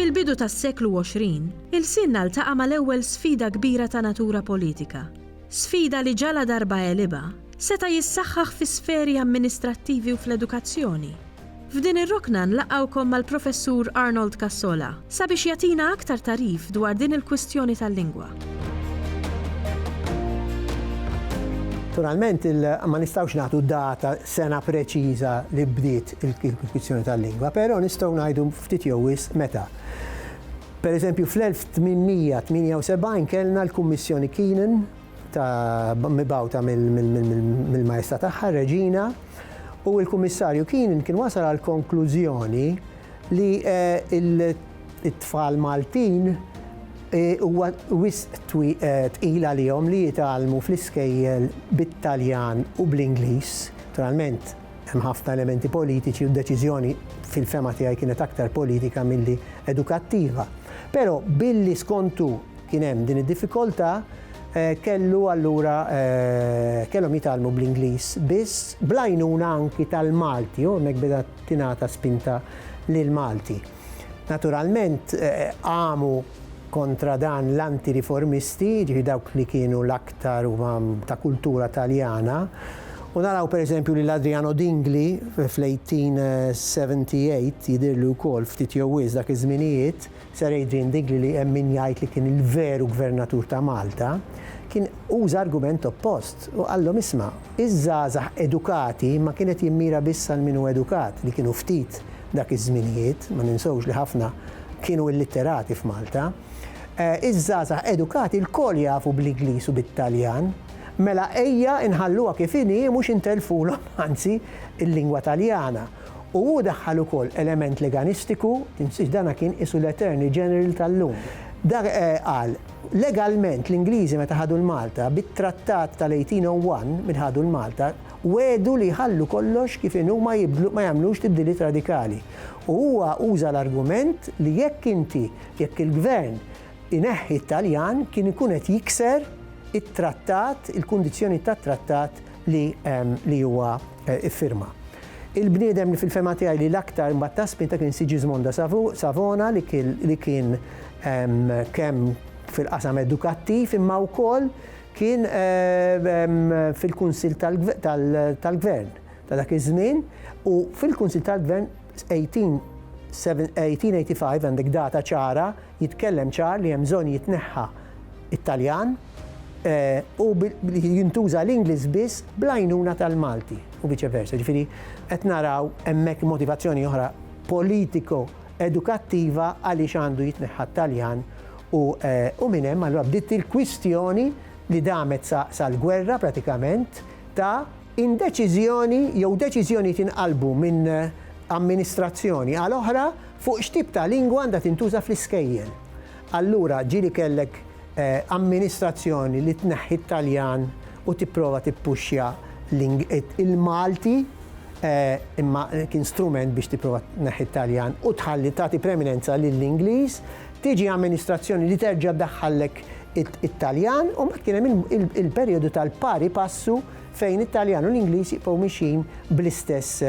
Fil-bidu tas-seklu 20, ilsienna ltaqa' mal-ewwel sfida kbira ta' natura politika. Sfida li ġaladarba għelibha, seta' jissaħħaħ fis-sferi amministrattivi u fl-edukazzjoni. F'din ir-rokna nlaqgħukom mal-Professur Arnold Cassola sabiex jagħtina aktar tagħrif dwar din il-kwistjoni tal-lingwa. Naturalment ma nistgħux nagħtu data sena preċiża li bdiet il-kwistjoni tal-lingwa, però nistgħu ngħidu ftit jew wisq meta. Per eżempju fl-1878 kellna l-Kummissjoni Keenan ta' mibgħuta mill-majesta tagħha Reġina u l-Kummissarju Keenan kien wasal għall-konklużjoni li t-tfal Maltin huwa wisq tqil għalihom li jitgħallmu fl-iskejjel bit-Taljan u bl-Ingliż. Naturalment, hemm ħafna elementi politiċi u d-deċiżjoni fil-fehma tiegħi kienet aktar politika milli edukattiva. Però billi skont hu, kien hemm din id-diffikoltà kellu allura kellhom jitgħallmu bl-Ingliż biss bl-għajnuna anki tal-Malti u hemmhekk beda tingħata spinta lil Malti. Naturalment qamu kontra dan l-anti-riformisti, ġifi dawk li kienu l-aktar huma ta' kultura Taljana, U naraw per eżempju li l-Adriano Dingli fl-1878 jidirlu wkoll ftit jew dak iż-żminijiet Sir Adrian Diggle li hemm min jgħid li kien il-veru Gvernatur ta' Malta, kien uża argument oppost u qallhom isma', iż-żgħażagħ edukati ma kien qed jimmira biss għal min hu edukat li kienu ftit dak iż-żminijiet, ma ninsewx li ħafna kienu illitterati f'Malta. Iż-żgħażagħ edukati lkoll jafu bl-Igliż u bit-Taljan, mela ejja nħalluha kif inhi mhux intelfulhom anzi l-lingwa Taljana. U hu daħħal ukoll element leganistiku, tinsiex dan kien qisu l-Attorney General tal-lum. Dak qal, Legalment l-Ingliżi meta ħadu l-Malta, bit-Trattat tal-1801 minn ħadu l-Malta, wegħdu li jħallu kollox kif inhu ma jibdlu, ma jagħmlux tibdiliet radikali. U huwa uża l-argument li jekk inti, jekk il-Gvern ineħħi t-Taljan kien ikun qed jikser it-Trattat, il-kundizzjonijiet tat-Trattat li huwa Iffirma. Il-bniedem li fil-fehma tiegħi li l-aktar imbagħad ta spinta kien Sigismond da Savona li kien kemm fil-qasam edukattiv imma wkoll kien fil-Kunsill tal-Gvern ta' dak iż-żmien u fil-Kunsill tal-Gvern 1885 għandek data ċara jitkellem ċar li hemm bżonn jitneħħa t-Taljan u li jintuża l-Ingliż biss bl-għajnuna tal-Malti u viċe versa. Ġifieri qed naraw hemmhekk motivazzjoni oħra politiko edukattiva għaliex għandu jitneħħa t-Taljan u minn hemm allura bdiet il-kwistjoni li damet sal-gwerra pratikament ta' In deċiżjoni jew deċiżjoni tinqalbu minn amministrazzjoni għal oħra fuq x'tip ta' lingwa għandha tintuża fl-iskejjel. Allura ġieli kellek amministrazzjoni li tneħħi t-Taljan u tipprova tippuxxja il-Malti imma kien strument biex tipprova tneħħi t-Taljan u tħalli tagħti preminenza lill-Ingliż, tiġi amministrazzjoni li terġa' ddaħħallek it-Taljan u mbagħad kien hemm il-perjodu tal-pari passu fejn it-Taljan u l-Ingliż jibqgħu mixjin bl-istess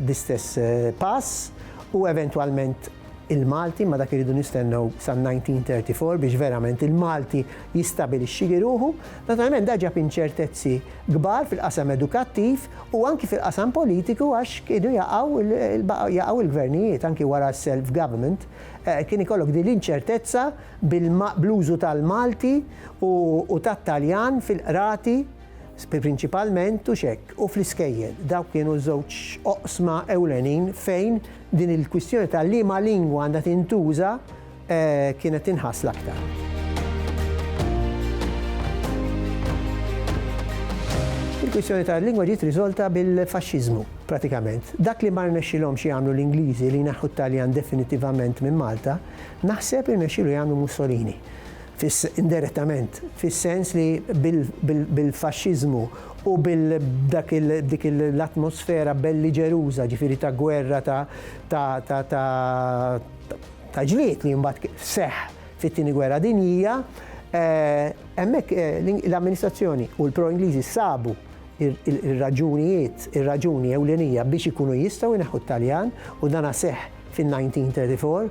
bl-istess pass u eventwalment il-Malti, ma dak irridu nistennew sal-1934 biex verament il-Malti jistabilixxili ruħu. Naturalment da ġab inċertezzi kbar fil-qasam edukattiv u anki fil-qasam politiku għax kienu jaqgħu jaqgħu l-gvernijiet anki wara s-self-government kien ikollok din l-inċertezza bl-użu tal-Malti u tat-Taljan fil-qrati prinċipalment u x'hekk u fl-iskejjel. Dawk kienu ż-żewġ oqsma ewlenin fejn din il-kwistjoni ta' liema lingwa għandha tintuża kienet tinħass l-aktar. Il-kwistjoni tal-lingwa ġiet riżolta bil-Faxxiżmu pratikament. Dak li ma rnexxilhomx jagħmlu l-Ingliżi li jneħħu t-Taljan definittivament minn Malta, Naħseb irnexxielu jagħmlu Mussolini, indirettament, fis-sens li bil-faxxiżmu u b'dik l-atmosfera belliġeruża, ġifieri ta' gwerra ta' ġlied li mbagħad seħħ fit-Tieni Gwerra Dinjija, hemmhekk l-amministrazzjoni u l-pro-Ingliżi sabu r-raġunijiet, ir-raġuni ewlenija biex ikunu jistgħu jneħħu t-Taljan u dan seħħ. fin-1934,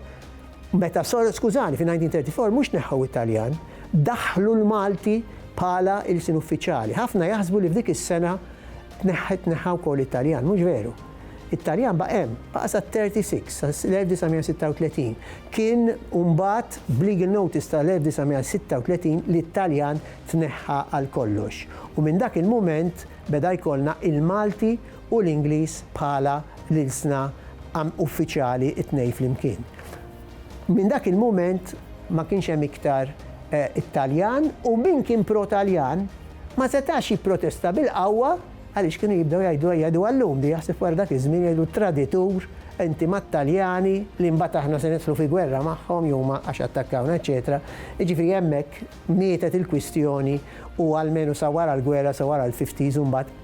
meta sor, skużani, fin-1934 mhux neħħew it-Taljan, daħħlu l-Malti bħala ilsien uffiċjali. Ħafna jaħsbu li f'dik is-sena tneħħa tneħħa wkoll it-Taljan, mhux veru. It-Taljan baqa' hemm, baqa' sat-36, sal-1936. Kien mbagħad b'legal notice tal-1936 li t-Taljan tneħħa għal kollox. U minn dak il-mument beda jkollna il-Malti u l-Ingliż bħala l-ilsna uffiċjali t-tnejn flimkien. Minn dak il-mument ma kienx hemm iktar it-Taljan u min kien pro-Taljan ma setax jipprotesta bil-qawwa għaliex kienu jibdew jgħidu ejja jgħiduha llum di jaħseb wara dak iż-żmien jgħidu traditur inti mat-Taljani li mbagħad aħna se nidħlu fi gwerra magħhom jew ma għax attakkawna eċċetera. Jiġifieri hemmhekk mietet il-kwistjoni u almenu sa wara l-gwerra sa wara l-fifties u mbagħad